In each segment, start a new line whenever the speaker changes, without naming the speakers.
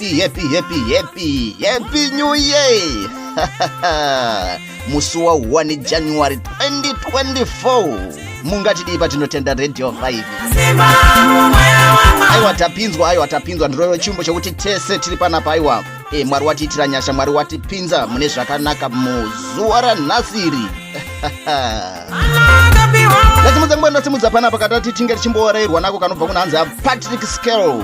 happy happy happy happy happy new year musi wa 1 january 2024 mungatidii patinotenda radio 5 aiwa tapinzwa aiwa tapinzwa ndiroyo chimbo chokuti tese tiri panapa aiwa e mwari watiitira nyasha mwari watipinza mune zvakanaka muzuva ranhasiri ndasimudza nguva ndasimudza panapa katati tinge tichimboorerwa nako kanobva kunhanzi apatrick scale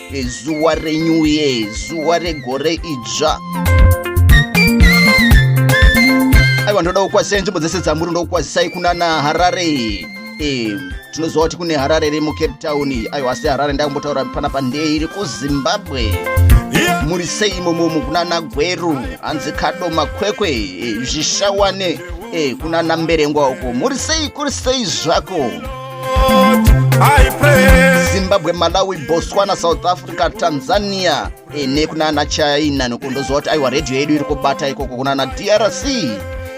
zuva renew year zuva regore idzva aiwa ndoda kukwazisai nzvimbo dzese dzamuri ndokukwazisai kunana harare e, tinoziva kuti kune harare iri mucape town aiwa asi harare ndakumbotaura pana pandei iri kuzimbabwe muri sei imomomo kunana gweru hanzi kado makwekwe e, zvishawane e, kunana mberengwa uko muri sei kuri sei zvako zimbabwe malawi botswana south africa tanzania ene kuna ana china nokundoziva kuti aiwa redhiyo yedu iri kubata ikoko kuna ana drc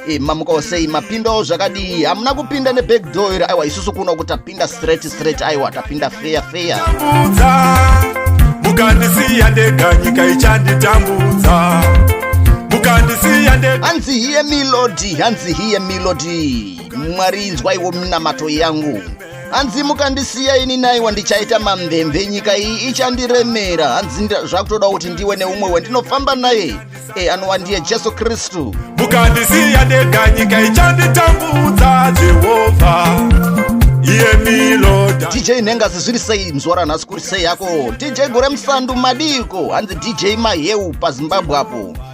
e, mamuka osei mapindawo zvakadii hamuna kupinda neback door iri aiwa isusu kuno kuti tapinda straight straight aiwa tapinda feya feya mukandisiya ndega nyika ichanditambudza mukandisiya ndega hanzi hiye milodi hanzi hiye milodi mwari inzwaiwo minamato yangu hanzi mukandisiya ini naiwa ndichaita mamvemve nyika iyi ichandiremera hanzi zvakutoda kuti ndiwe neumwe wendinofamba naye e anova ndiye jesu kristu mukandisiya ndega nyika ichanditambudza jehovha dj nhengazi zviri sei mzwara ranhasi kuri sei yako dj gore musandu madiko hanzi dj maheu pazimbabwe apo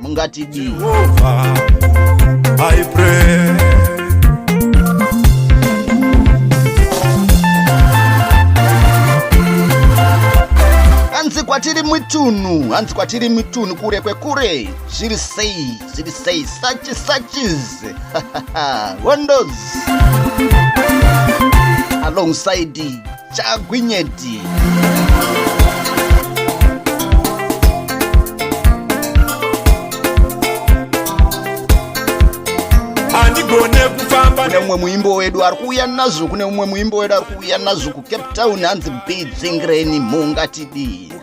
mungatidii hanzi kwatiri mitunhu hanzi kwatiri mitunhu kure kwekure zviri sei zviri sei sachi sachis hondos alongside chagwinyeti kune mumwe muimbo wedu ari kuuya nazvo kune mumwe muimbo wedu ari kuuya nazvo kucape town hanzi bidzingreni mhungatidii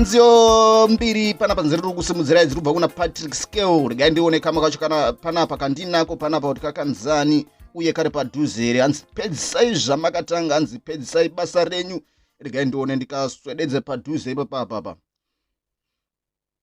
nziyo mbiri pana panzira riri kusimudzira idzi rubva kuna patrick scale regai ndione kama kacho kana panapa kandinako panapa kuti kakanzani uye kari padhuze here hanzi pedzisai zvamakatanga hanzi pedzisai basa renyu regai ndione ndikaswededze padhuze ipapapapa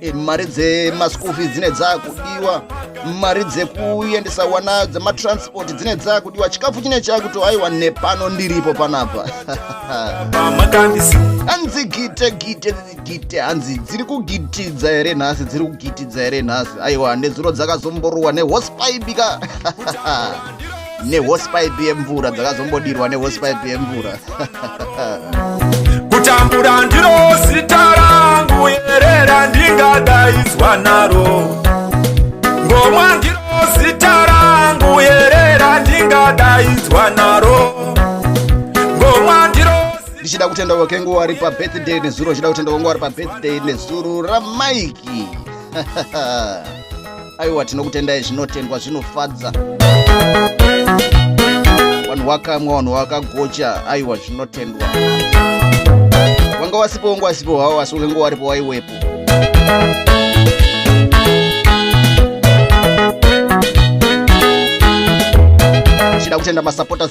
e, mari dzemaschool fees dzine dzakudiwa mari dzekuendesa wana dzematransport dzine dzakudiwa chikafu chine chakuto aiwa nepano ndiripo panapa hanzi gite gite gite hanzi dziri kugitidza here nhasi dziri kugitidza here nhasi aiwa nezuro dzakazomborowa nehospaibika nehosipipe yemvura dzakazombodirwa nehosipipe yemvura kutambura ndiro zita rangu yerera ndingadaidzwa naro ngomwa ndiro zita rangu yerera ndingadaidzwa naro ndichida kutenda wakengu wari pabirthday nezuro ndichida kutenda wangu wari pabirthday nezuro ramaiki aiwa tinokutendai zvinotendwa zvinofadza vanhu wakamwa vanhu wakagocha aiwa zvinotendwa wanga wasipo wanga wasipo hawo asi ukenge waripo waiwepo chida kutenda masupporters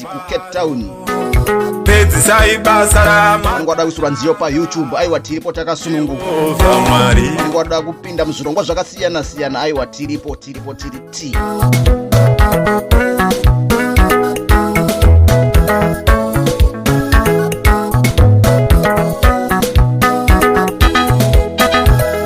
kucape town pedzisai basa ramangwada kuisirwa nziyo payoutube aiwa tiripo takasununguka mangwada kupinda muzvirongwa zvakasiyana siyana aiwa tiripo tiripo tiri ti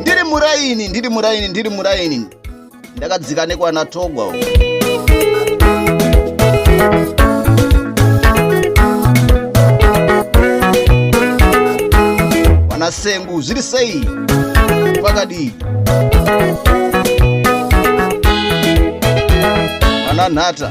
ndiri muraini ndiri muraini ndiri muraini ndakadzika nekwana togwa vana sengu zviri sei pakadii vana nhata